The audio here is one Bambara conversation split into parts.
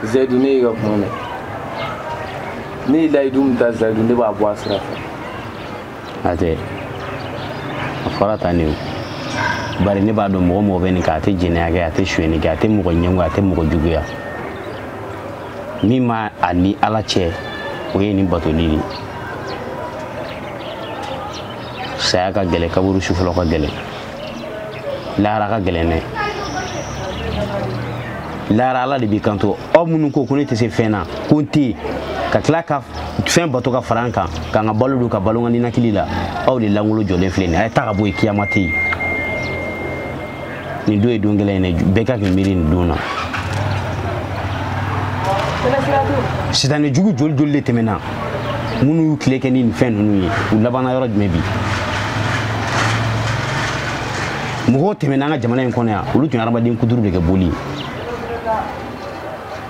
zayidu ne y'i ka kuma mɛn ne ye layidu min ta zayidu ne b'a bɔ a sira fɛ a tɛ a fɔra tan de o bari ne b'a dɔn mɔgɔ mɔgɔ bɛ nin kɛ a tɛ jɛnɛya kɛ a tɛ suyɛni kɛ a tɛ mɔgɔ ɲɛngo a tɛ mɔgɔ juguya min ma a ni ala cɛ o ye nin batoli de saya ka gɛlɛn kaburu su fɔlɔ ka gɛlɛn lahara ka gɛlɛn dɛ lahara ala de b'i kanto aw minnu ko ko ne tɛ se fɛn na ko n tɛ yen ka tila ka fɛn bato ka fara n kan ka n ka balo dun ka balo n ka ninakili la aw de lankolon jɔlen filɛ nin a ye taa ka bɔ yen kiyama tɛ yen nin don ye don gɛlɛn ye dɛ bɛɛ ka k'i miiri nin don na sitanɛ jugu joli joli de tɛmɛna minnu y'u tile kɛ ni nin fɛn ninnu ye u labanna yɔrɔ jumɛn bi mɔgɔw tɛmɛna an ka jamana in kɔnɔ yan olu tun ye hadamaden kuturu de kɛ boli ye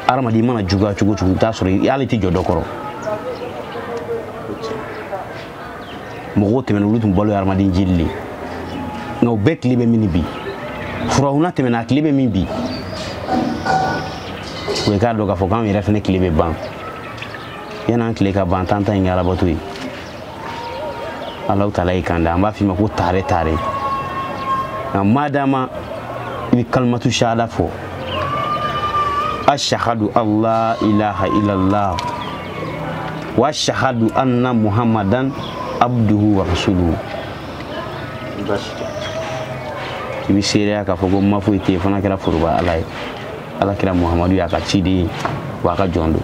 hadamaden mana juguya cogo cogo i bɛ taa sɔrɔ i hali tɛ jɔ dɔ kɔrɔ mɔgɔw tɛmɛna olu tun balo ye hadamaden jeli de ye nka u bɛɛ tile bɛ min bi furahuna tɛmɛna a tile bɛ min bi o ye k'a dɔn k'a fɔ k'anw yɛrɛ fana tile bɛ ban yan'an tile ka ban tan ta in kɛ alabato ye alahu taala y'i kanda an b'a f'i ma ko taare taare nka madama i bɛ kalimatu shahada fɔ ashahadu alla ilaha illallah wa ashahadu anna muhammadan abduhu wa rasuluhu i bɛ seereya k'a fɔ ko ma foyi tɛ yen fo n'a kɛra foroba ala ye ala kira muhamadu y'a ka ciden ye wa a ka jɔn don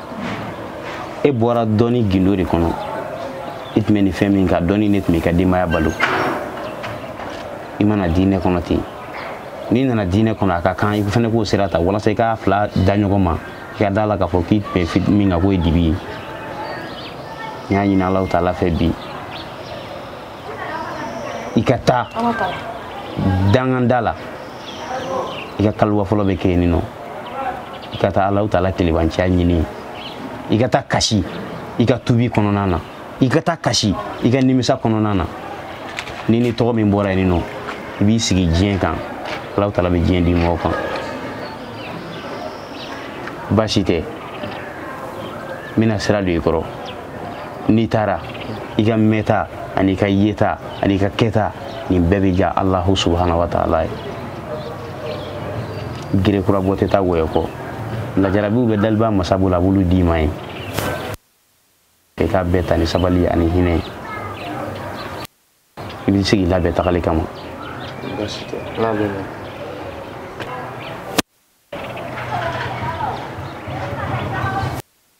e bɔra dɔnni gindo de kɔnɔ i tun bɛ nin fɛn min kan dɔnni ne tun b'i ka denbaya balo i ma na diinɛ kɔnɔ ten n'i nana diinɛ kɔnɔ a ka kan i fana k'o sira ta walasa i k'a fila da ɲɔgɔn ma i ka d'a la k'a fɔ k'i tun bɛ min kan k'o ye dibi ye n y'a ɲini alahu taala fɛ bi i ka taa dankan da la i ka kaliwa fɔlɔ bɛ kɛ yen nɔ i ka taa alahu taala kelebanciya ɲini i ka taa kasi i ka tubi kɔnɔna na i ka taa kasi i ka nimisa kɔnɔna na ni nin tɔgɔ min bɔra yen nɔ i b'i sigi diɲɛ kan alahu taala bɛ diɲɛ di mɔgɔw kan baasi tɛ n bɛna sira don i kɔrɔ n'i taara i ka mɛnta ani i ka yeta ani i ka kɛta nin bɛɛ bɛ diya alahu subahana wa taala ye gerekura bɔ tɛ taa wɔyɔ kɔ lajarabiw bɛ daliba masa bolo a b'olu d'i ma ye i k'a bɛɛ ta ni sabali ani hinɛ ye i bɛ se k'i labɛn tagali kama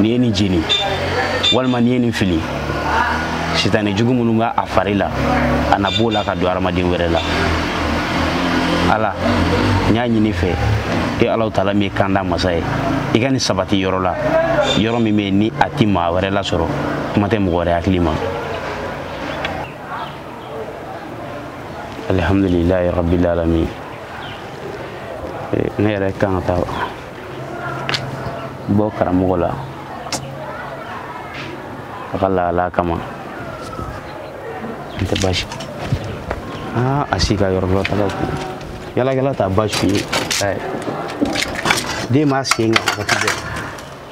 n'i ye nin jeni walima n'i ye nin fili sitanɛ jugu minnu b'a fari la a na bɔ a la ka don hadamaden wɛrɛ la ala n y'a ɲini i fɛ e alahu taala min ye kanda masa ye i ka nin sabati yɔrɔ la yɔrɔ min bɛ yen ni a ti maa wɛrɛ lasɔrɔ kuma tɛ mɔgɔ wɛrɛ hakili ma alhamdulilayi rabil alamin ne yɛrɛ kan ka taa bɔ karamɔgɔ la a ka lahala kama n tɛ baasi aa a si ka yɔrɔ dɔ taga ko yaalakɛla t'a baasi ye den b'a sen kan wagati bɛɛ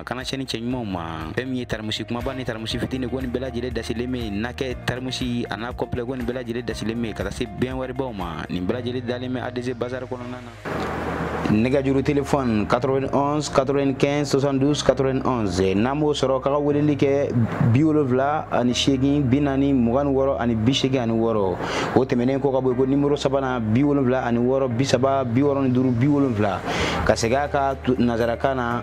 a kana cɛ ni cɛ ɲumanw ma fɛn min ye taramusi kunbaba ni taramusi fitini ko nin bɛɛ lajɛlen dasilen bɛ yen n'a kɛ taramusi a n'a kɔnpilɛ ko nin bɛɛ lajɛlen dasilen bɛ yen ka taa se bɛn wɛrɛbaw ma nin bɛɛ lajɛlen dalen bɛ adc bazar kɔnɔna na nɛgɛjuru telefɔni 91 95 72 91 n'a m'o sɔrɔ k'a ka weleli kɛ bi wolonwula ani seegin bi naani mugan ni wɔɔrɔ ani bi seegin ani wɔɔrɔ o tɛmɛnen kɔ ka bɔ yen ko nimoro sabanan bi wolonwula ani wɔɔrɔ bi saba bi wɔɔrɔ ni duuru bi wolonwula ka segin a kan nanzarakan na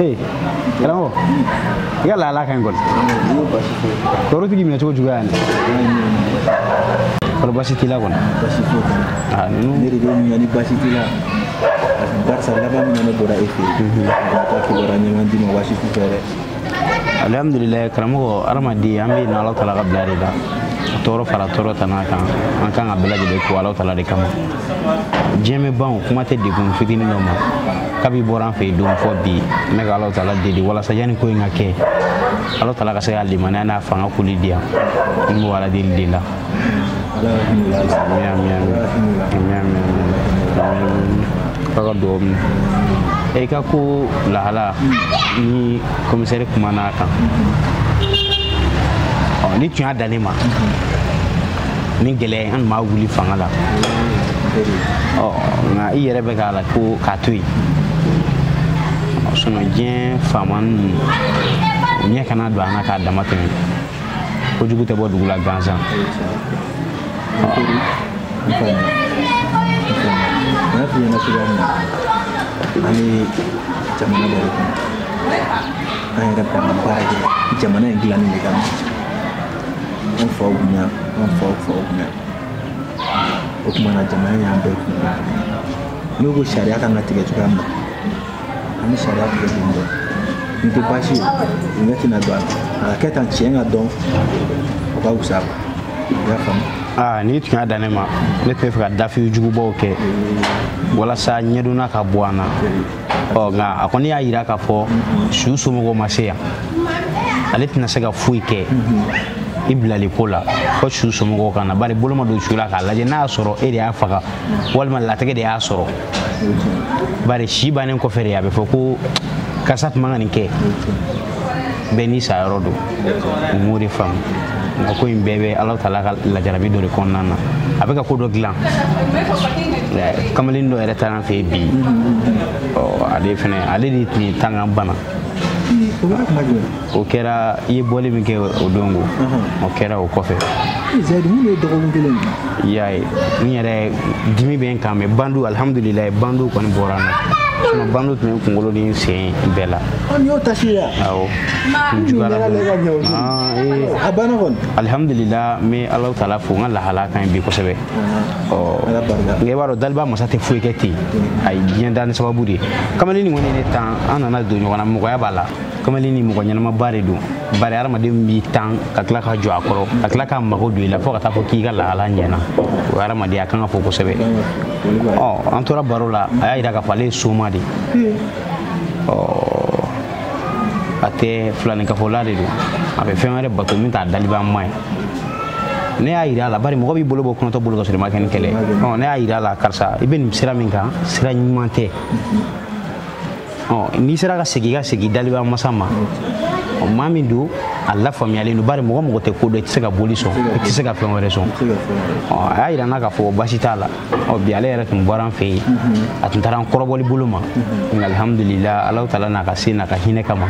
ee karamɔgɔ i ka lahala ka ɲi kɔni tɔɔrɔ tigi minɛ cogo juguya yan kɔrɔ basi t'i la kɔni ah, ne de b'i ɲininka ni basi t'i la barisa laban min na ne bɔra e fɛ yen mhm. a ka kibaruya ɲɛma d'i ma basi t'u fɛ dɛ alhamdulilayi karamɔgɔ hadamaden an bɛ yen ala taala ka bila de la tɔɔrɔ fara tɔɔrɔ tana kan an kan k'a bɛɛ lajɛlen ko ala taala de kama diɲɛ bɛ ban kuma tɛ degun fitinin dɔ ma kabi i bɔra n fɛ yen don fo bi n bɛ ka ala taala deli walasa yanni ko in ka kɛ ala taala ka se ka limaniya n'a fanga koli di yan n b'o ala deli de la k'a ka dugawu minɛ e ka ko lahala ni komisɛri kumana a kan n'i tun y'a dan ne ma ni gɛlɛya ye an tun ma wuli fanga la nka i yɛrɛ bɛ k'a la ko k'a to yen sinɔn diɲɛ faama ninnu u ɲɛ kana don an na k'a damatɛmɛ kojugu tɛ bɔ dugu la gansan ani jamana dɔ de kɔnɔ an yɛrɛ bɛ baara kɛ jamana in dilanni de kama an faw kun yan an faw faw kun yan o tuma na jamana y'an bɛɛ kun yan n'u ko sariya kan ka tigɛ cogoya min na an bɛ sariya tigɛ ten dɔn nin tɛ baasi ye u ɲɛ tɛna don a la a ka kɛ tan tiɲɛ ka dɔn o ka wusa ma i y'a faamu aa n'i tun y'a dan ne ma ne tun bɛ fɛ ka dafi jugubaw kɛ walasa ɲɛdonna ka bɔ an na ɔ nka a kɔni y'a jira k'a fɔ su somɔgɔw ma se yan ale tɛna se ka foyi kɛ i bilali ko la fo su somɔgɔw ka na bari bolo ma don su la k'a lajɛ n'a y'a sɔrɔ e de y'a faga walima latigɛ de y'a sɔrɔ bari si bannen kɔfɛ de a bɛ fɔ ko karisa tun man ka nin kɛ bɛɛ n'i sa yɔrɔ don u m'o de faamu nka ko in bɛɛ bɛ alahu taala ka lajarabi dɔ de kɔnɔna na a bɛ ka ko dɔ dilan kamalen dɔ yɛrɛ taara an fɛ bi ale fana ale de tun ye n tan ka n bana o kɛra i ye bɔli min kɛ o don ko o kɛra o kɔfɛ i y'a ye n yɛrɛ dimi bɛ n kan mɛ bandu alihamudulilayi bandu kɔni bɔra n na bandu tun bɛ kunkolo ni n sen bɛɛ la an y'o tasi ya awɔ a banna kɔni alihamudulila n bɛ alahu taala fo n ka lahala kan bi kosɛbɛ ɔ nka i b'a dɔn daliba masa tɛ foyi kɛ ten a ye diɲɛ da ni sababu de ye kamalen nin kɔni ye ne tan an nana don ɲɔgɔn na mɔgɔya b'a la kamalen nin mɔgɔ ɲɛnamaba de don bari hadamaden b'i tan ka tila ka jɔ a kɔrɔ ka tila k'a mago don i la fo ka taa fɔ k'i ka lahala ɲɛna o hadamaden ka kan ka fo kosɛbɛ ɔ an tora baro la a y'a jira k'a fɔ ale ye soma de ye a tɛ filaninkafola de don a bɛ fɛn wɛrɛ bato min t'a dalibanma ye ne y'a jira a la bari mɔgɔ b'i bolo bɔ kunatɔ bolo ka sɔrɔ i ma kɛ ni kɛlɛ ne y'a jira a la karisa i bɛ nin sira min kan sira ɲuman tɛ n'i sera ka segin ka segin daliba masa ma maa min don a lafaamuyalen don bari mɔgɔ mɔgɔ tɛ ko dɔn i tɛ se ka boli sɔn i tɛ se ka fɛn wɛrɛ sɔn a y'a jira n na k'a fɔ baasi t'a la ɔ bi ale yɛrɛ tun bɔra an fɛ yen a tun taara an kɔrɔbɔli bolo ma nka alihamudulila alahu taala n'a ka se n'a ka hinɛ kama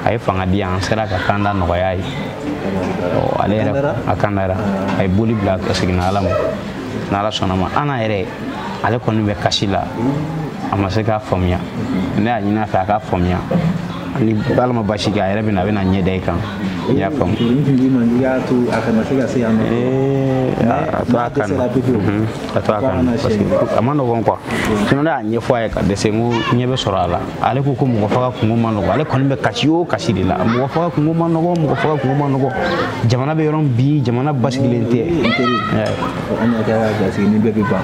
a ye fanga di an sera k'a kanda nɔgɔya ye ale yɛrɛ a kandara a ye boli bila a seginna ala ma n'ala sɔnna a ma an yɛrɛ ale kɔni bɛ kasi la a ma se k'a faamuya ne y'a ɲini a fɛ a k'a faamuya ni ala ma baasi kɛ a yɛrɛ bɛ na a bɛna ɲɛ da i kan n y'a faamu i y'a to a kana se ka se yan nɔ a to a kan na a to a kan na parce que a man nɔgɔn quoi sinon ne y'a ɲɛfɔ a ye ka dɛsɛ n ko ɲɛ bɛ sɔrɔ a la ale ko ko mɔgɔ faga kunko man nɔgɔn ale kɔni bɛ kasi o kasi de la mɔgɔ faga kunko man nɔgɔn mɔgɔ faga kunko man nɔgɔn jamana bɛ yɔrɔ min bi jamana basigilen tɛ an y'a kɛ ka sigi ni bɛɛ bɛ ban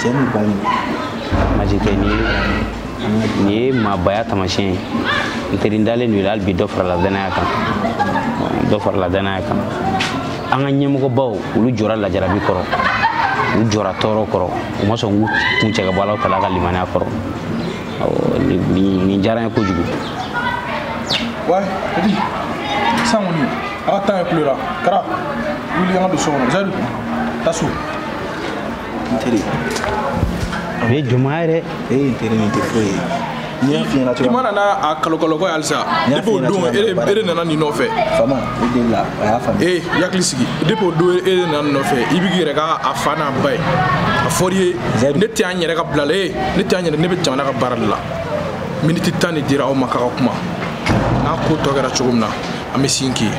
cɛ ni ba ɲi maji tɛ nin ye nin ye maabaya tamasiyɛn ye n teri n dalen don i la hali bi dɔ farala danaya kan dɔ farala danaya kan an ka ɲɛmɔgɔbaw olu jɔra lajarabi kɔrɔ u jɔra tɔɔrɔ kɔrɔ u ma sɔn k'u kun cɛ ka bɔ ala kela ka limaniya kɔrɔ nin diyara n ye kojugu wa edi san kɔni a ka tan ye kulo la kara wuli an ka don so kɔnɔ zɛdu taa so n teri o ye jɔnmaya ye dɛ e ye n teri nin tɛ foyi ye n y'a f'i ɲɛna cogoya i ma na n'a a kalokalokɔ ye halisa depi o don e de nana nin nɔfɛ fama i deli la a y'a faamu ee i hakili sigi depi o don e de nana nin nɔfɛ i b'i yɛrɛ kɛ a fa n'a ba ye a fɔr'i ye ne tɛ an yɛrɛ ka bila la ee ne tɛ an yɛrɛ ne bɛ jamana ka baara de la miniti tan de dira aw ma k'aw ka kuma n'a ko tɔ kɛra cogo min na an bɛ sin k'i ye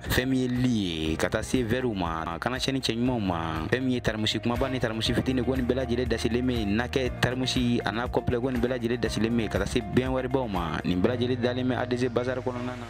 fɛn min ye lit ye ka taa se vɛriw ma kana sɛni cɛɲumanw ma fɛn min ye tarimusi kumaba ni tarimusi fitini ko nin bɛɛ lajɛlen dasilen bɛ nakɛ tarimusi a n'a complet ko nin bɛɛ lajɛlen dasilen bɛ ka taa se bɛn wɛribaw ma nin bɛɛ lajɛlen dalen bɛ adc bazar kɔnɔna na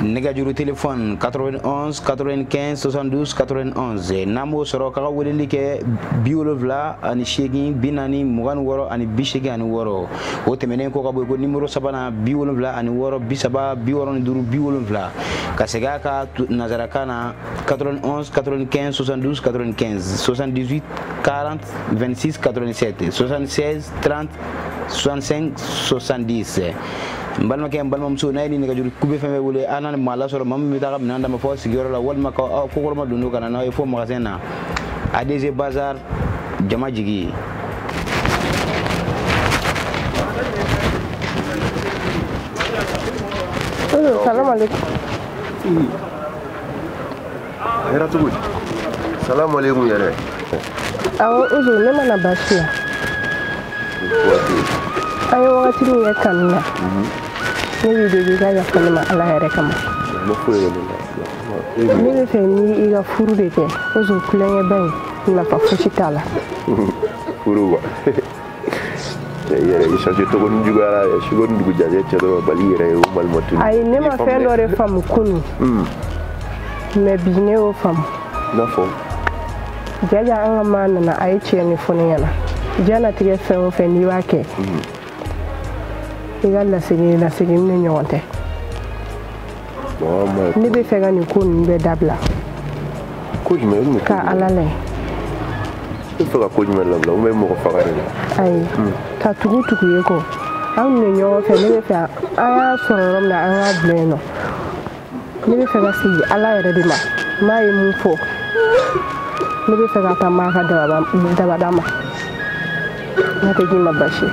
nɛgɛjuru telefɔni 91 95 72 91 n'a m'o sɔrɔ k'a ka weleli kɛ bi wolonwula ani seegin bi naani mugan ni wɔɔrɔ ani bi seegin ani wɔɔrɔ o tɛmɛnen kɔ ka bɔ ko nimoro sabanan bi wolonwula ani wɔɔrɔ bi saba bi wɔɔrɔ ni duuru bi wolonwula ka segin a kan nansarakan na 91 95 72 95 78 40 26 87 76 30 65 70 n balimakɛ n balimamuso n'a ye ni nɛgɛjuru kube fɛn fɛn wele an na maa lasɔrɔ maa min bɛ taa ka minɛn d'a ma fo sigiyɔrɔ la walima ka kɔkɔrɔmadon n'o ka na n'aw ye fo magasin na adc bazar jama jigi salamaleykum hɛrɛ cogo di salamaleykum yɛrɛ awɔ uzu ne ma na baasi la an ye wagati min kɛ kanu na ne b'i deli i ka yafa ne ma ala yɛrɛ kama ne b'a fɛ ni i ka furu de kɛ uzu tulonkɛba in nafa fosi t'a la furu wa cɛ yɛrɛ i change togo ni juguyara yɛ sugo ni dugu jajɛ cɛ dɔ bali yɛrɛ ye o balima tunu ayi ne ma fɛn dɔ de faamu kunu mais bi ne y'o faamu n'a fɔ jaja an ka maa nana a ye tiɲɛ nin fɔ ne ɲɛna diɲɛnatigɛ fɛn o fɛn n'i b'a kɛ i ka lasegin lasegin ne ɲɔgɔn tɛ ne bɛ fɛ ka nin ko ninnu bɛɛ dabila ka ala lɛ i fɛ ka ko jumɛn dabila ou bien mɔgɔ faga de la ayi hmm. ka tugu tugu ye kɔ anw de ɲɔgɔn fɛ ne bɛ fɛ an y'a sɔrɔ yɔrɔ min na an k'a bila yen nɔ ne bɛ fɛ ka segin ala yɛrɛ de ma n'a ye mun fɔ ne bɛ fɛ ka taa maa ka dabada ma n'a tɛ k'i ma basi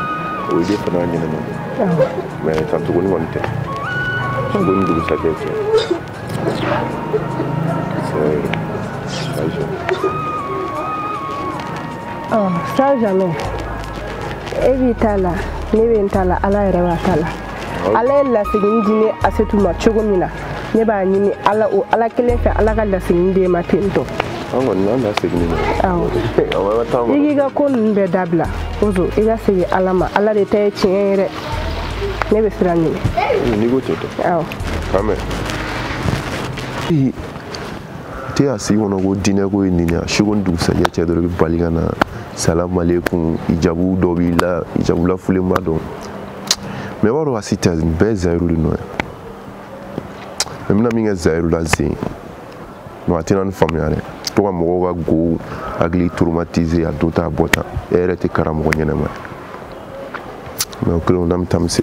o ye fana ɲɛnama mais ka tuguni kɔni tɛ suko ni dugusajɛ cɛ ça jamais e b'i ta la ne bɛ n ta la ala yɛrɛ b'a ta la ala ye lasegin di ne asetu ma cogo min na ne b'a ɲini ala o ala kelen fɛ ala ka lasegin di e ma ten tɔ an kɔni n'an da segin ma awɔ i k'i ka ko ninnu bɛɛ dabila ozo i ka segin ala ma ala de ta ye tiɲɛ ye dɛ ne bɛ sira ɲini n'i ko ten tɛ awɔ k'an mɛn i tɛ a sigi kɔnɔ ko diinɛ ko ye nin ye a suko ni dugusajɛ cɛ dɔrɔn i bɛ bali ka na salamalekun ijabu dɔ b'i la ijabu lafulenba don mais b'a dɔn basi tɛ nin bɛɛ ye zayiru de nɔ ye mais n bɛna min kɛ zayiru la zen non a tɛna nin faamuya dɛ to ka mɔgɔw ka gow hakili traumatiser a don tan a bɔ tan e yɛrɛ tɛ karamɔgɔ ɲɛnama ye mais o kelen o n'an bɛ taa mise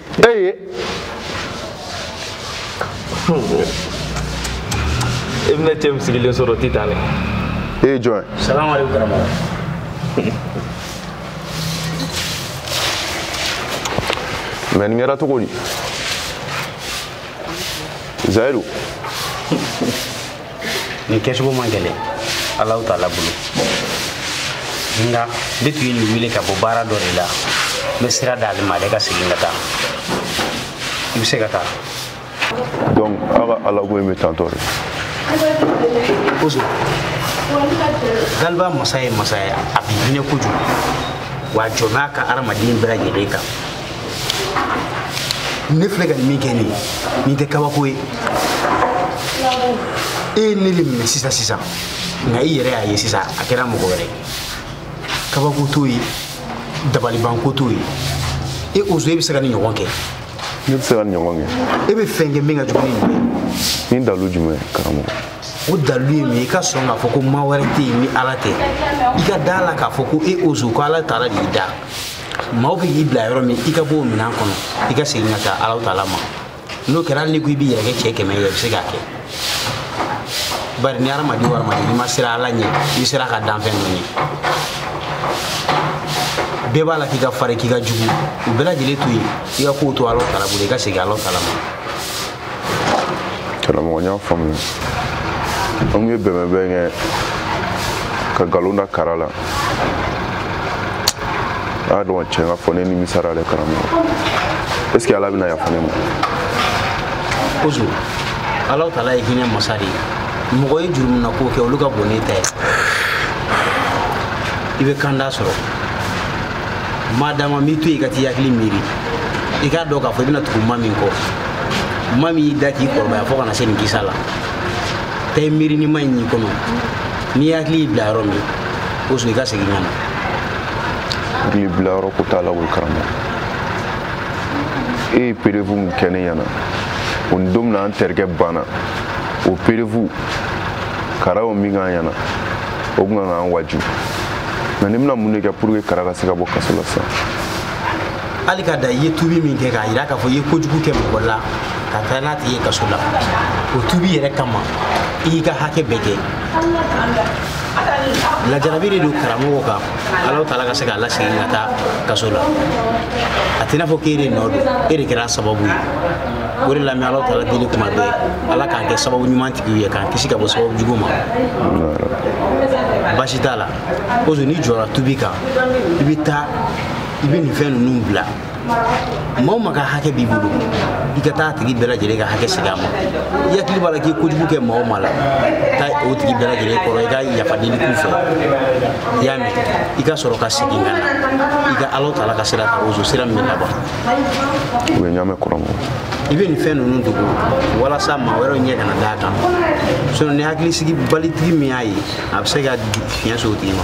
eye i bɛna cɛ min sigilen sɔrɔ ti tan dɛ e ye jɔn ye salamaleykum karamɔgɔ mais nin kɛra cogo di zayiru nin kɛcogo man gɛlɛn alahu taala bolo nka ne tun ye nin wele ka bɔ baara dɔ de la n bɛ sira d'ale ma ale ka segin ka taa i bɛ se ka taa donc aw ka alako in bɛ tan tɔ de galiba masa ye masa ye a bɛ hinɛ kojugu wa a jɔn n'a ka hadamaden bɛɛ lajɛlen kan ne filɛ ka nin min kɛ nin ye nin tɛ kabako ye e ye ne le minɛ sisan sisan nka i yɛrɛ y'a ye sisan a kɛra mɔgɔ wɛrɛ ye kabako t'o ye dabalibanko t'o ye e ozo e bɛ se ka nin ɲɔgɔn kɛ ne bɛ se ka nin ɲɔgɔn kɛ e bɛ fɛn kɛ min ka jugu ni nin ye ni dalu jumɛn karamɔgɔ o dalu ye min ye i ka sɔn k'a fɔ ko maa wɛrɛ tɛ yen ni ala tɛ i ka da la k'a fɔ ko e ozo ko ala taala de y'i da maaw bɛ k'i bila yɔrɔ min i ka bɔ o minɛn kɔnɔ i ka segin ka taa alahu taala ma n'o kɛra hali n'i ko i b'i yɛrɛ kɛ cɛ kɛmɛ ye i bɛ se k'a kɛ bari ni hadamaden o hadamaden n'i ma siran ala ɲɛ i siran a ka danfɛn dɔ ɲɛ bɛɛ b'a la k'i ka fari k'i ka jugu o bɛɛ lajɛlen to yen i ka kow to alahu taala bolo i ka segin alahu taala ma karamɔgɔ n y'a faamuya an kun ye bɛnbɛnbɛn kɛ ka nkalon da kara la a y'a dɔn tiɲɛ ka fɔ ne nimisara dɛ karamɔgɔ est ce que ala bɛna yafa ne ma ozo alahu taala ye hinɛ masa de ye mɔgɔ ye jurumuna ko kɛ olu ka bon n'e ta ye i bɛ kanda sɔrɔ ma dama m'i to yen ka t'i hakili miiri i k'a dɔn k'a fɔ i bɛna tugu ma min kɔ ma min y'i da k'i kɔrɔbaya fo ka na se nin kisa la taa i miiri ni ma in y'i kɔnɔ n'i hakili y'i bila yɔrɔ min ozo i ka segin ka na hakili bila yɔrɔ ko t'a la koyi karamɔgɔ e ye perevu min kɛ ne ɲɛna o ni don min na an terikɛ banna o perevu kara o min k'an ɲɛna o tun kan k'an waju mais ne bɛna mun de kɛ pour que kara ka se ka bɔ kaso la sisan hali ka da i ye tubi min kɛ k'a yira k'a fɔ i ye kojugu kɛ mɔgɔ la ka taa n'a tigi ye kaso la o tubi yɛrɛ kama i y'i ka hakɛ bɛɛ kɛ lajarabi de don kara kan alahu taala ka se k'a lasegin ka taa kaso la a tɛna fɔ k'e de nɔ don e de kɛra sababu ye o de la n bɛ alahu taala deli kuma bɛɛ ala k'an kɛ sababu ɲuman tigiw ye k'an kisi ka bɔ sababu jugu ma basi t'a la ozo n'i jɔra tubi kan i bɛ taa i bɛ nin fɛn ninnu bila maa o maa ka hakɛ b'i bolo i ka taa a tigi bɛɛ lajɛlen ka hakɛ segin a ma i hakili b'a la k'i kojugu kɛ maa o maa la taa o tigi bɛɛ lajɛlen kɔrɔ i ka yafa deli k'u fɛ i y'a mɛn i ka sɔrɔ ka segin ka na i ka ala taala ka sira ta ozo sira min bɛ laban u bɛ ɲaamɛ kɔrɔ mɔ i bɛ nin fɛn ninnu dogo walasa maa wɛrɛw ɲɛ kana d'a kan sinon ni hakilisigibalitigi min y'a ye a bɛ se ka fiɲɛ se o tigi ma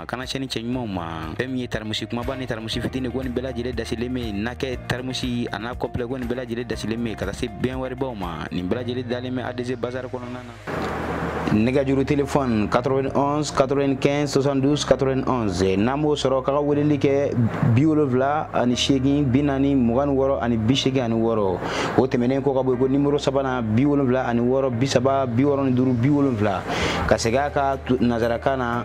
a kana cɛ ni cɛ ɲumanw ma fɛn min ye taramusi kumaba ni taramusi fitini ko nin bɛɛ lajɛlen dasilen bɛ yen na kɛ taramusi a n'a complet ko nin bɛɛ lajɛlen dasilen bɛ yen ka taa se bɛn wɛrɛbaw ma nin bɛɛ lajɛlen dalen bɛ adc bazar kɔnɔna na nɛgɛjuru telefɔni 91 95 72 91 n'an b'o sɔrɔ k'a ka weleli kɛ bi wolonwula ani seegin bi naani mugan ni wɔɔrɔ ani bi seegin ani wɔɔrɔ o tɛmɛnen kɔ ka bɔ yen ko nimoro sabanan bi wolonwula ani wɔɔrɔ bi saba bi wɔɔrɔ ni duuru bi wolonwula ka segin a ka nansarakan na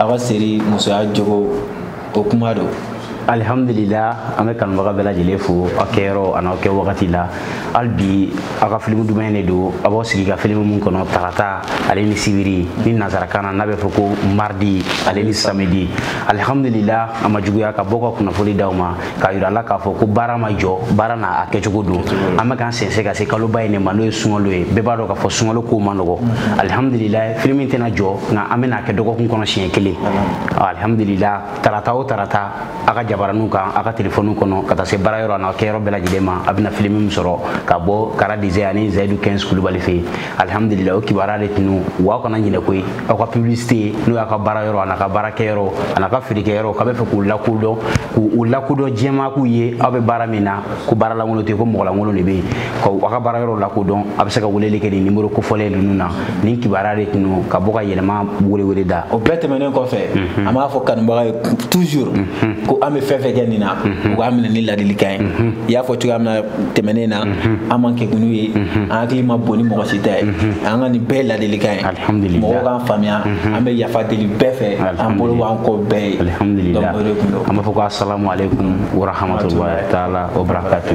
aw ka seri musoya jogo o kuma don alihamdulila an bɛ kanubaga bɛɛ lajɛlen fo aw kɛyɔrɔ an'aw kɛwagati la hali bi aw ka filimu duman de don aw b'aw sigi ka filimu min kɔnɔ tarata ale ni sibiri ni nansarakan na n'a bɛ fɔ ko mardi ale ni samedi alihamdulila a ma juguya ka bɔ ka kunnafoli d'aw ma k'a yira la k'a fɔ ko baara ma jɔ baara n'a kɛcogo don an bɛ k'an sɛnsɛn ka se kaloba in de ma n'o ye sunkalo ye bɛɛ b'a dɔn k'a fɔ sunkalo kow ma nɔgɔ alihamudulila filimu tɛna jɔ nka an bɛna a kɛ dɔgɔkun kɔnɔ siɲɛ kelen alihamudulila tarata o tarata a ka jabaraniw kan a ka telefɔniw kɔnɔ ka taa se baara yɔrɔ an'a kɛyɔrɔ bɛɛ lajɛlen ma a bɛna filimu min sɔrɔ ka bɔ Kara Design ani zayidu quinze kulubali fɛ yen alhamdulillah o kibaruya de tun don wa aw kana ɲinɛ koyi aw ka publicité n'o y'a ka baara yɔrɔ an'a ka baara kɛyɔrɔ an'a ka feerekɛ yɔrɔ k'a bɛ fɛ k'u lakodɔn k'u lakodɔn jama k'u ye aw bɛ baara min na ko baara lankolon tɛ yen ko mɔgɔ lankolon de bɛ yen ka aw ka baara yɔrɔ lakodɔn a bɛ se ka weleli kɛ nin nimoro kofɔlen ninnu na nin kibaruya de tun don ka bɔ ka yɛlɛma welewele da o bɛɛ tɛmɛnen kɔfɛ mhm. an b'a fɔ kanubagaw ye toujours mhm. ko an bɛ fɛn fɛn kɛ nin na mhm. u k'a minɛ ni ladilikan ye i y'a fɔ cogoya min na tɛmɛnen na an man kegun n'u ye an hakili man bon ni mɔgɔ si ta ye an ka nin bɛɛ ladilikan ye mɔgɔw k'an faamuya an bɛ yafa deli bɛɛ fɛ an bolo b'an kɔ bɛɛ ye an b'a fɔ ko asalamu aleykum warahmatulahi taala wabarakatu